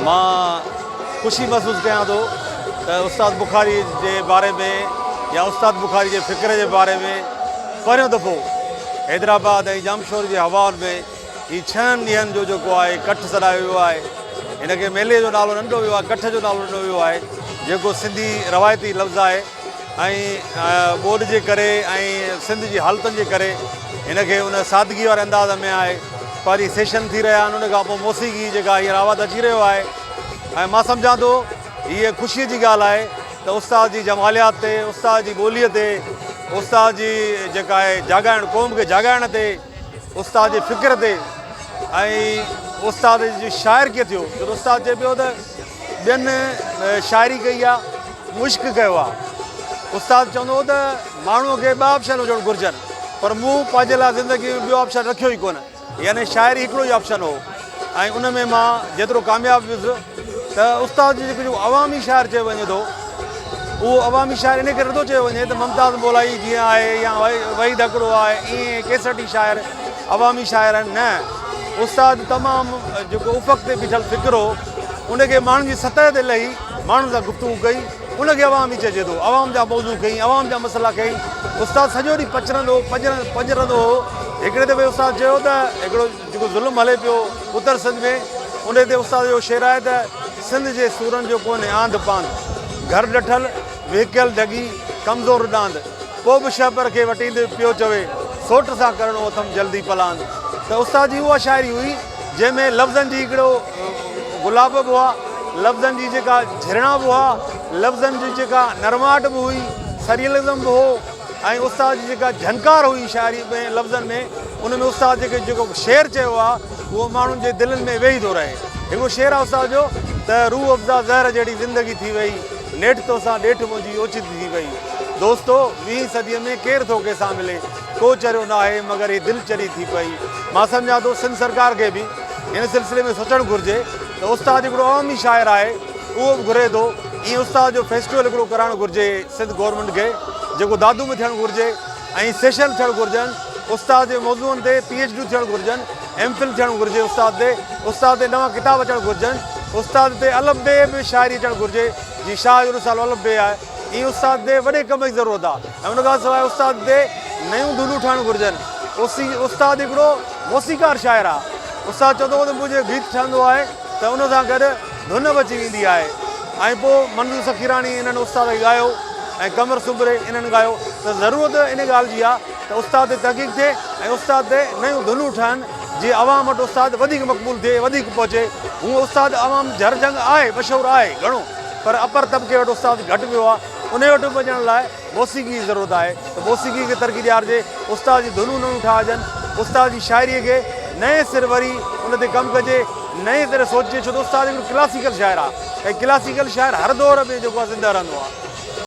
مان خوشي محسوس ڪيان ٿو ته استاد بخاري جي باري ۾ يا استاد بخاري جي فڪر جي باري ۾ پهريون دفعو حيدرآباد ۽ ڄامشوري جي هوائن ۾ هي ڇهن ڏينهن جو جيڪو آهي ڪٺ سڏايو ويو آهي هن کي ميلي جو نالو نه ڏنو ويو آهي ڪٺ جو نالو ڏنو ويو آهي جيڪو سنڌي روايتي لفظ آهي ۽ ٻوڏ جي ڪري ۽ سنڌ جي حالتن جي ڪري هن کي ان سادگي واري انداز ۾ آهي پري سيشن ٿي رهيا آهن ان کان پوء موسيقي جيڪا هينئر آواز اچي رهيو آهي ۽ مان سمجهان ٿو هيء خوشي جي ڳالهه آهي ته استاد جي جماليات تي استاد جي ٻوليء تي استاد جي جيڪا آهي جاڳائڻ قوم کي جاڳائڻ تي استاد جي فڪر تي ۽ استاد جي شاعر ڪيئن ٿيو جو استاد چئي پيو ته ٻين شاعري ڪئي آهي مشق ڪيو آهي استاد چوندو هو ته ماڻهوء کي ٻ آپشن هجڻ گهرجن پر مون پنهنجي لاء زندگي ۾ ٻيو آپشن رکيو ئي ڪونه يعني شاعري هڪڙو ئي آپشن هو ۽ ان ۾ مان جيترو ڪامياب ويس ته استاد جي جيڪو جو عوامي شاعر چيو وڃي ٿو اهو عوامي شاعر ان ڪري نٿو چيو وڃي ته ممتاز مولائي جيئن آهي يا وحيد اڪڙو آهي ائين ڪيسٽي شاعر عوامي شاعر آهن نه استاد تمام جيڪو افق تي بيٺل فڪر هو ان کي ماڻهن جي سطح تي لهي ماڻهن سان گفتگو ڪئي ان کي عوام ئي چئجي ٿو عوام جا موضوع کي عوام جا مسئلا کي استاد سڄو ڏينهن پچرندو پڄرندو پڄرندو هو هڪڙي دفعي استاد چيو ته هڪڙو جيڪو ظلم هلي پيو اتر سنڌ ۾ ان تي استاد جو شعر آهي ته سنڌ جي سورن جو ڪونهي آنڌ پانڌ گهر ڏٺل وهڪيل ڍڳي ڪمزور ڏاند پوء به شهپر کي وٽيندي پيو چوي سوٽ سان ڪرڻو اٿم جلدي پلاند ته استاد جي اها شاعري هئي جنهن ۾ لفظن جي هڪڙو گلاب به هئا لفظن جي جيڪا جهرڻا به هئا لفظن جي جيڪا نرماهٽ به هئي سريلزم به هو ۽ استاد جي جيڪا جھنڪار هئي شاعري ۾ لفظن ۾ ان ۾ استاد جيڪي جيڪو شعر چيو آ اهو ماڻهن جي دلن ۾ ويهي ٿو رهي هڪڙو شعر آ استاد جو ته روح افزا زهر جهڙي زندگي ٿي وئي نيٺ توسان ڏيٺ منهنجي اوچتي ٿي وئي دوستو ويهين صدي ۾ ڪير ٿو ڪنهن سان ملي ڪو چريو ناهي مگر هي دل چري ٿي پئي مان سمجهان ٿو سنڌ سرڪار کي به هن سلسلي ۾ سوچڻ گهرجي ته استاد هڪڙو عوامي شاعر آهي اهو به گهري ٿو ايئن استاد جو فيسٽيول هڪڙو ڪرائڻ گهرجي سنڌ گورنمينٽ کي جيڪو دادو ۾ ٿيڻ گهرجي ۽ سيشن به ٿيڻ گهرجن استاد جي موضوعن تي پي ايچ ڊيون ٿيڻ گهرجن ايم فل ٿيڻ گهرجي استاد تي استاد تي نوان ڪتاب اچڻ گهرجن استاد تي الف بي به شاعري اچڻ گهرجي جي شاهه جو رسالو الف بي آهي ايئن استاد تي وڏي ڪم جي ضرورت آهي ۽ ان کان سواء استاد تي نيون ڌنون ٺهڻ گهرجن اسي استاد هڪڙو موسيقار شاعر آهي استاد چوندو هو ته منهنجو گيت ٺهندو آهي ته ان سان گڏ ڌن به اچي ويندي آهي ۽ پوء منظور سخيراڻي انهن استاد کي ڳايو ۽ قمر سومري انهن ڳايو ته ضرورت ان ڳالهه جي آهي ته استاد تي تحقيق ٿئي ۽ استاد تي نيون ڌنون ٺهن جيئن عوام وٽ استاد وڌيڪ مقبول ٿئي وڌيڪ پهچي هونء استاد عوام جهر جهنگ آهي مشهور آهي گهڻو پر اپر طبقي وٽ استاد گهٽ ويو آهي انهي وٽ پڄڻ لاء موسيقي جي ضرورت آهي ته موسيقي کي ترقي ڏيارجي، استاد جي ڌنون نيون ٺاهجن، استاد جي شاعريء کي نئين سر وري ان تي ڪم ڪجي، نئين طرح سوچجي ڇو ته استاد هڪڙو ڪلاسيڪل شاعر آهي ۽ ڪلاسيڪل شاعر هر دور ۾ جيڪو آهي زنده رهندو آهي.